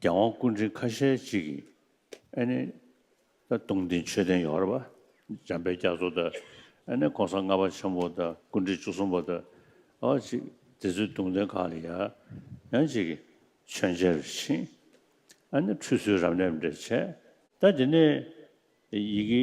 རྒྱལ་དབང་སྐུ་འཕྲེང་ཁ་ཤས་གཅིག་གིས་ཨ་ནི་སྟོང་ལྡན་མཆོད་རྟེན་ཡོ་ཧར་བ་འཇམ་དཔལ་རྒྱ་མཚོ་དང་ཨ་ནི ྋགོང་ས་ལྔ་པ་ཆེན་པོ་དང་སྐུ་འཕྲེང་བཅུ་གསུམ་པ་དང་ཨ་ཅིག་དེ་ཚོའི་གདུང་རྟེན་ཁག་ལ་ཡང་ཅིག་གིས་མཆོད་མཇལ་བར་ཕྱིན། ཨ་ནི་ཁྲུས་གསོལ་རབ་གནས་འབྲེལ་བྱས། ཟླ་འདི་ནས་ཡི་གེ་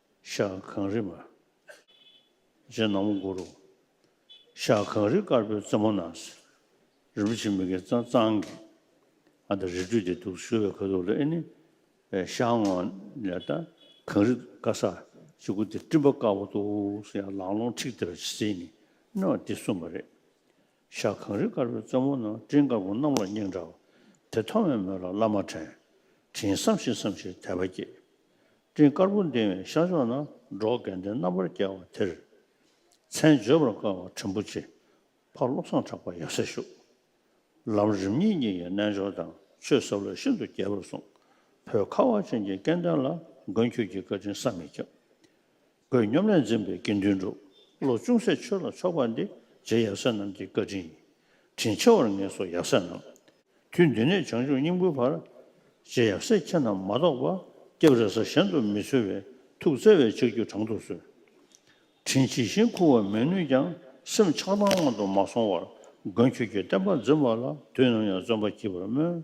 ཤག་གངས་རི་མར། རྗེ་ནག་མོ་མགུ་རུ། ཤག་གངས་རི་དཀར་པོའི་རྩེ་མོ་ན། རིན་པོ་ཆེ་མི་དགེ་རྩ་གཙང་གིས། ཨ་ད་རི་ཁྲོད་དེ་འདུག་ཞུ་བའི་ཁ་ཐུག་ལ་ཨེ་ནི། ཤག་ངོ། ལས་ད་གངས་རི་དཀར་སར་ཅིག་གུ་དེ་སྤྲིན་པ་དཀར་པོ་འདུག་ཡང་ལང་ལོང་ཁྲིག་དེ་ལ་ཕྱི་ཚེས་ནི་ནི་བ་དེ་གསུངས་པ་རེད། ཞག་གངས་རི་དཀར་པོའི་རྩེ་མོ་ན་སྤྲིན་དཀར་པོ་གནམ་ལོག་སྙིང་འདྲ་བ་དེ་མཐོང་བའི་མོད་ལ་བླ་མ་དྲན། དྲིན་བསམ་བཞིན་བསམ་བཞིན་དད་པ་སྐྱེས། སྤྲིན་དཀར་པོ་འདིང་བའི་ཤར་ཕྱོགས་ན་འབྲོག་རྒན་བསྟན་རྣམ་པར་རྒྱལ་བ་དེར། མཚན་བརྗོད་པར་དཀའ་བ་དྲིན་པོ་ཆེ་ཕ་བློ་བཟང་གྲགས་པ་ཡབ་སྲས་བཞུགས། ལམ་རིམ་གཉིས་གཉིས་ཀྱི་རྣལ་འབྱོར་དང་ཆོས་ཟབ་ལ་ཤིན་ཏུ་རྒྱས་པར་གསུངས། བོད་ཁ་བ་ཅན་གྱི་སྐལ་ལྡན་ལ་མགོན་ཁྱོད་ཀྱི་བཀའ་དྲིན་བསམ་མི་ཁྱབ། བོད་སྙོམས་ལས་འཛིན་པའི་དགེ་འདུན་འགྲོ་བློ་ཅུང་ཟད་ཆོས་ལ་ཕྱོགས་པ་འདི་རྗེ་ཡབ་སྲས་རྣམས་ཀྱི་བཀའ་དྲིན་དྲིན་ཆེ་བར་ངེས་སོ་ཡབ་སྲས་རྣམས། དུས་འདི་ནས་བྱང་ཆུབ་སྙིང་པོའི་བར། རྗེ་ཡབ་སྲས་ཁྱེད་རྣམས་མ་གཏོགས་པ། སྐྱབས་རེ་ས་གཞན་དུ་མི་འཚོལ་བའི། ཐུགས་བརྩེ་བས་ཕྱག་རྒྱུད་དྲང་དུ་གསོལ། དྲིན་ཇི་བཞིན་འཁུར་བར་མི་ནུས་ཀྱང། སེམས་ཆགས་སྡང་སྔོན་དུ་མ་སོང་བར། མགོན་ཁྱོད་ཀྱི་བསྟན་པ་འཛིན་པ་ལ། དུས་ནམ་ཡང་བརྩོན་པ་བགྱིད་པར་སྨོན།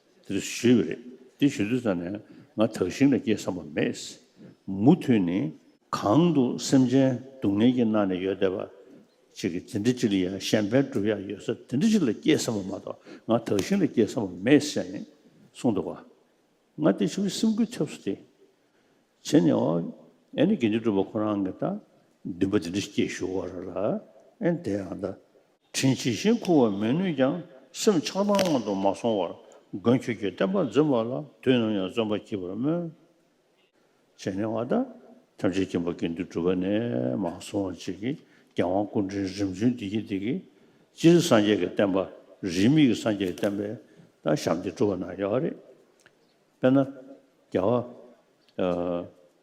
དེ་ཚོ་ཞུས་པ་རེད། དེ་ཞུས་དུས་ཙང་ནས་ང་དག་ཞིང་ལ་སྐྱེས་བསམ་པ་མེད། མུ་མཐུད་ནས། གང་དུ་སེམས་ཅན་སྡུག་བསྔལ་གྱིས་མནར་ནས་ཡོད་བསྡད་པ། ཅིག་གིས་འདི་འདྲི་ཅི་ལ་ཡ་གཞན་ཕན་བསྒྲུབ་ཡག་ཡོད་ས་འདི་འདྲི་ཅིག་ལ་སྐྱེས་བསམ་པ་མ་གཏོགས་ང་དག་ཞིང་ལ་སྐྱེས་བསམ་པ་མེད་ཟེར་ནས་གསུངས་འདུག་བ། ང་དེ་ཆུ་བོའི་སེམས་ཁུར་ཐེབས་སོ་དེ། བྱས་ནས་ཨོ། ཨེ་ནི་དགེ་འདུན་གྲུབ་པ་ཁོ་རང་གིས་ད་འདུན་པ་འདི་འདྲི་སྐྱེས་ཞུ་བར་ཨེ་འདས་ཨང་ད། དྲིན་ཇི་བཞིན་འཁུར་བར་མི་ནུས་ཀྱང་སེམས་ཆགས་སྡང་དབང་དུ་མ་སོང་བར་མགོན་ཁྱོད་ཀྱི་བསྟན་པ་འཛིན་པ་ལ་དུས་ནམ་ཡང་བརྩོན་པ་བགྱིད་པར་སྨོན། ཅེས་ནན་བརྡ་ཐམས་ཅད་ཀྱིས་འབའ་དགེ་འདུན་གྲུབ་པ་ནས་མ་སོང་བར་རྗེས་ཀྱི་རྒྱལ་དབང་སྐུ་ཕྲེང་རིམ་བྱོན་བདེ་སྐྱིད་བདེ་སྐྱིད་སྤྱིར་སངས་རྒྱས་ཀྱི་བསྟན་པ་རིས་མེད་ཀྱི་སངས་རྒྱས་ཀྱི་བསྟན་པའི་སྟག་ཤམ་དེ་གྲུབ་པ་ན་ཡག་རེད། དཔེར་ན་རྒྱལ་བ།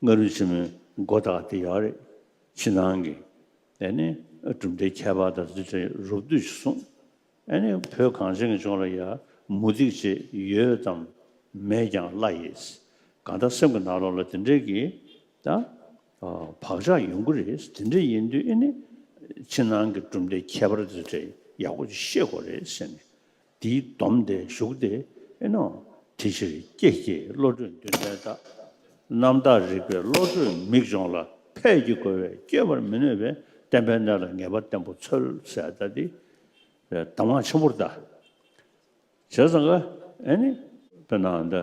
སྔ་རོལ་ཆེན་མོའི་མགོ་བཏགས་དེ་ཡག་རེད། ཕྱི་ནང་གི་ཨེ་ནི་གྲུབ་མཐའི་ཁྱད་པར་དང་རྫུས་ཕྲན་རུབ་བསྡུས་ཅིག་གསུངས། ཨེ་ནི་བོད་གངས་ཅན་གྱི་ལྗོངས་ལ་ཡར་མུ་རྡིག་ཅིག་ཡོད་ཙམ་མེད་ཀྱང་བླ་ཡིས་གང་ལྟར་སེམས་ཀྱི་ནང་ལོགས་ལ་དེ་འདྲའི་གི་ད་བག་ཆགས་ཡོང་གི་རེད་དེ་འདྲ་ཡིན་དུས་ཨེ་ནི་ཕྱི་ནང་གི་གྲུབ་མཐའི་ཁྱད་པར་རྫུས་ཕྲན་ཡག་པོ་ཅིག་ཤེས་དགོས་རེད་ཟེར་ནས་འདིའི་སྡོམ་དེ་བཞུགས་ཏེ་ཨེ་ནོ། དེ་ཕྱིར་ཀྱེ་ཀྱེ་བློ་གྲོས་མདུན་ལྡན་དག། རྣམ་དག་རིག་པའི་བློ་གྲོས་མིག་སྦྱོང་ལ་ཕས་ཀྱི་རྒོལ་བས་སྐྱེ་བར་མི་ནུས་པའི་བསྟན་པའི་གནས་ལ་ངེས་པ་བརྟན་པོ་འཚོལ་བསལ་ལྟ་སྟེ། གདམས་ངག་ཆེན་པོར་བལྟ། བྱས་ཙང་ཀ། ཨེ་ནི། པའི་ནང་དུ།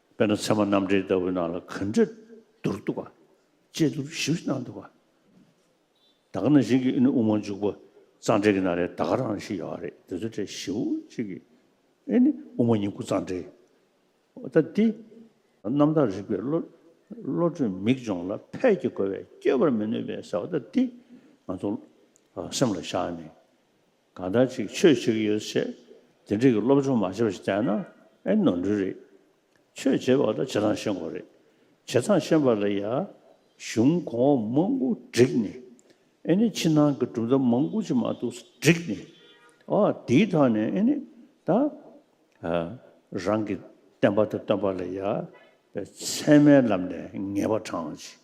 དཔེར་ན་ཚེར་མ་རྣམ་འགྲེལ་ལྟ་བུའི་ནང་ལ་ག་འདྲ་འདུར་འདུག་པ། ཅེས་འདུར་ཞིབ་གནང་འདུག་པ། ད་ག་ན་བཞིན་གྱི་ཨི་ནི་ཨུ་མ་འཇུག་པ་གཙང་སྦྲའི་གི་ན་རེ་ད་ག་རང་ཞིག་ཡོད་རེད་དེ་ཚོ་འདྲེ་ཞིབ་ཅིག་གིས་ཨི་ནི་ཨུ་མ་ཉིང་ཁུ་གཙང་སྦྲའི་ད་འདི། རྣམ་དག་རིག་པའི་བློ། བློ་གྲོས་མིག་སྦྱོང་ལ་ཕས་ཀྱི་གོ་བས་སྐྱོད་པར་མི་ནུས་པའི་ཟེར་བ་ད་འདི། ང་ཚོ་སེམས་ལ་བཞག་ནས། གང་ལྟར་ཅིག་ཆོས་གཅིག་ཡོད་ཅེས་དེ་འབྲེལ་གྱི་སློབ་སྦྱོང་མ་བྱས་པ་ཞིག་བསྟན་ན་ཨེ་ནོར་འགྲུལ་རེད། ཆོས་བྱེད་པ་ལ་བྱེད་སྟངས་ཤེས་དགོས་རེད། བྱེད་སྟངས་ཤེས་པ་ལ་ཡང་གཞུང་གོང་འོག་མང་པོ་བསྒྲིགས་ནས་ཨེ་ནི་ཕྱི་ནང་གི་གྲུབ་མཐའ་མང་པོ་ཅིག་མ་གཏོགས་སུ་བསྒྲིགས་ནས་ཨ་དེའི་ཐོག་ནས་ཨེ་ནི་ད་རང་གི་བསྟན་པ་དང་སྟོན་པ་ལ་ཡང་ཚད་མའི་ལམ་ནས་ངེས་པ་དྲངས་ཅིག།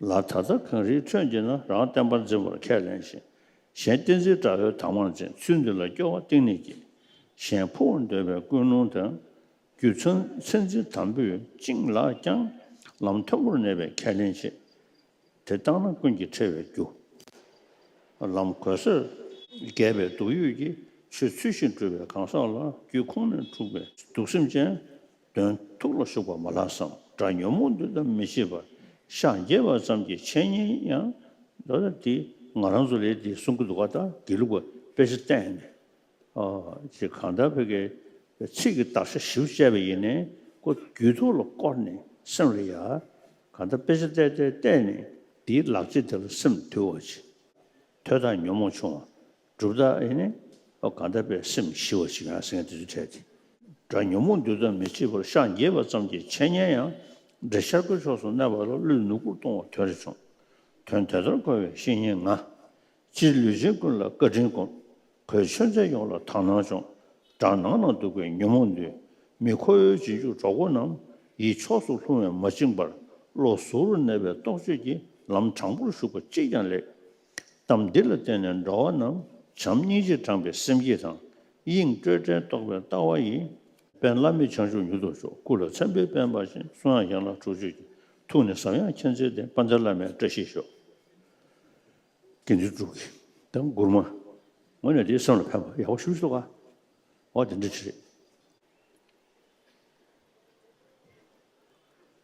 ལ་ད་ལྟ་གངས་རིའི་ཁྲོད་འདི་ན་རང་བསྟན་པར་འཛིན་པར་ཁས་ལེན་ཞིང། གཞན་བསྟན་འཛིན་དགྲ་བོའི་དྭངས་མར་འཛིན་ཚུལ་འདི་ལ་སྐྱོ་བ་གཏིང་ནས་སྐྱེས། གཞན་ཕུ་བོ་འདོད་པའི་ཀུན་སློང་དང། རྒྱུ་མཚན་མཚན་འཛིན་དམ་པོས་བཅིངས་ལགས་ཀྱང། ལམ་མཐོན་པོར་གནས་པའི་ཁས་ལེན་བྱེད། དེ་བཏང་ན་ཀུན་གྱིས་ཁྲེལ་བའི་རྒྱུ། ལམ་གོལ་སོད། རྒས་པའི་སྡུག་ཡུས་ཀྱིས་ཆུ་ཚུད་བཞིན་བཀྲུས་པའི་གང་ཟག་ལ་རྒྱུད་ཁོང་ནས་འཁྲུགས་པའི་སྡུག་སེམས་ཅན། དོན་ཐུགས་ལ་ཞུགས་པ་མ་ལགས་སམ། སྒྲ་ཉོན་མོངས་འདུལ་དམ་མི་ཤེས་པར་ཤགས་འགྱེད་པ་ཙམ་གྱི་འཆད་ཉན་ཡང་འདུག་ལ་དེ་ང་རང་ཚོ་ལས་དེ་གསུང་གི་འདུག་ཁ་བརྡ་དགེ་ལུགས་པ་དཔེ་ཆ་བསྟན་ནས་དེ་གང་ལྟར་བོད་སྐད་ཚིག་གི་དག་ཆ་བཞི་བོ་དཔྱད་པ་ཡིན་ནས་ཀོ་རྒྱུས་ཐུགས་ལ་བསྐོར་ནས་སེམས་ལ་ཡ། གང་ལྟར་དཔེ་ཆ་བལྟས་བལྟས་བལྟས་ནས་དེའི་ལག་རྗེས་དེ་ལ་སེམས་དུལ་བར་བྱེད། དོས་དང་ཉོན་མོངས་ཆུང་བ་གྲུབ་རྟགས་ཨེ་ནི། གང་དད་པའི་སེམས་ཞི་བ་ཞིག་ཡང་སེང་གེ་དེ་ཚོས་འཕྲད་དེ། སྒྲ་ཉོན་མོངས་འདུལ་ཙམ་མི་བྱེད་པར་ཤག་འགྱེལ་བ་ཙམ་གྱིས་འཆད་ཉན་ཡང་འབྲེལ་འཆར་སྒོའི་ཕྱོགས་སུ་གནས་པ་ལ་ཀླུའི་ནུབ་སྒོར་ལྟུང་བ་དོན་རེ་བྱུང། དོན་དེ་ལྟར་གོ་བའི་བཤེས་གཉེན་ང། སྤྱིར་ལུས་ཅན་ཀུན་ལ་བཀའ་དྲིན་སྒོམ། གོས་མཆོད་མཚན་ཡོངས་ལ་དག་སྣང་སྦྱོང། བྲག་ནགས་ན་འདུག་པའི་ཉོན་མོངས་འདུལ། མི་ཁོ་བོའི་རྗེས་འཇུག་གྲོགས་པོ་རྣམས། ཡིད་ཕྱོགས་སུ་ལྷུང་བས་མ་བཅིངས་པར། བློ་གཟུ་རུ་གནས་པའི་རྟོག་དཔྱོད་ཀྱིས་ལམ་དྲང་པོར་ཞུགས་པ་ཅིས་ཀྱང་ལེགས། གཏམ་འདི་ལ་བརྟེན་ནས་འགྲོ་བ་རྣམས་བྱམས་སྙིང་རྗེས་དྲངས་པའི་སེམས་བསྐྱེད་དང། དབྱིངས་སྤྲོས་བྲལ་རྟོགས་པའི་ལྟ་བ་ཡིས། དཔལ་བླ་མེད་བྱང་ཆུབ་མྱུར་དུ་ཤོག་སྐུ་ལ་མཚན་དཔེའི་དཔལ་འབར་ཞིང་གསུང་དབྱངས་ཡན་ལག་དྲུག་ཅུ་གྱི་ཐུགས་ནི་ཟབ་ཡངས་མཁྱེན་བརྩེ་ལྡན་དཔལ་ལྡན་བླ་མའི་བཀྲ་ཤིས་ཤོག། དགེ་འདུན་དྲུག་གི་དང་མགུར་མ། ངོས་ནས་འདིའི་སེམས་ལ་ཕན་པ་ཡག་པོ་ཞུ་ཞུ་ག་འོ་དེ་འདྲ་ཅི་རེད།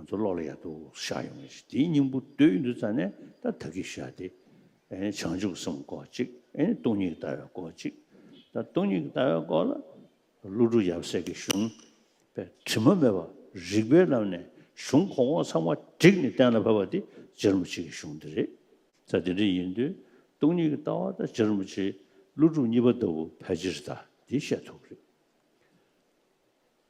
ང་ཚོ་ཀློག་ལ་ཡག་ཏུ་ཤར་ཡོང་བའི་དེའི་སྙིང་པོ་འདོད་ཡོད་འདུག་ཙང་ནས་ད་ད་གི་ཤར་ཏེ། བྱང་ཆུབ་སེམས་སྐོར་གཅིག་སྟོང་ཉིད་ལྟ་བའི་སྐོར་གཅིག་ད་སྟོང་ཉིད་ཀྱི་ལྟ་བའི་སྐོར་ལ། ཀླུ་སྒྲུབ་ཡབ་སྲས་ཀྱི་གཞུང་པའི་དྲི་མ་མེད་པ་རིགས་པའི་ལམ་ནས་གཞུང་གོང་འོག་ཚང་མ་བསྒྲིགས་ནས་གཏན་ལ་ཕབ་པ་དེ་སྦྱར་མོ་ཆེ་གི་གཞུང་དེ་རེད། ད་དེ་འདྲ་ཡིན་དུས་སྟོང་ཉིད་ཀྱི་ལྟ་བ་ད་སྦྱར་མོ་ཆེ་ཀླུ་སྒྲུབ་གཉིས་པ་ལྟ་བུ་ཕལ་ཆེར་ད་དེ་བཤད་ཐུབ་རེད།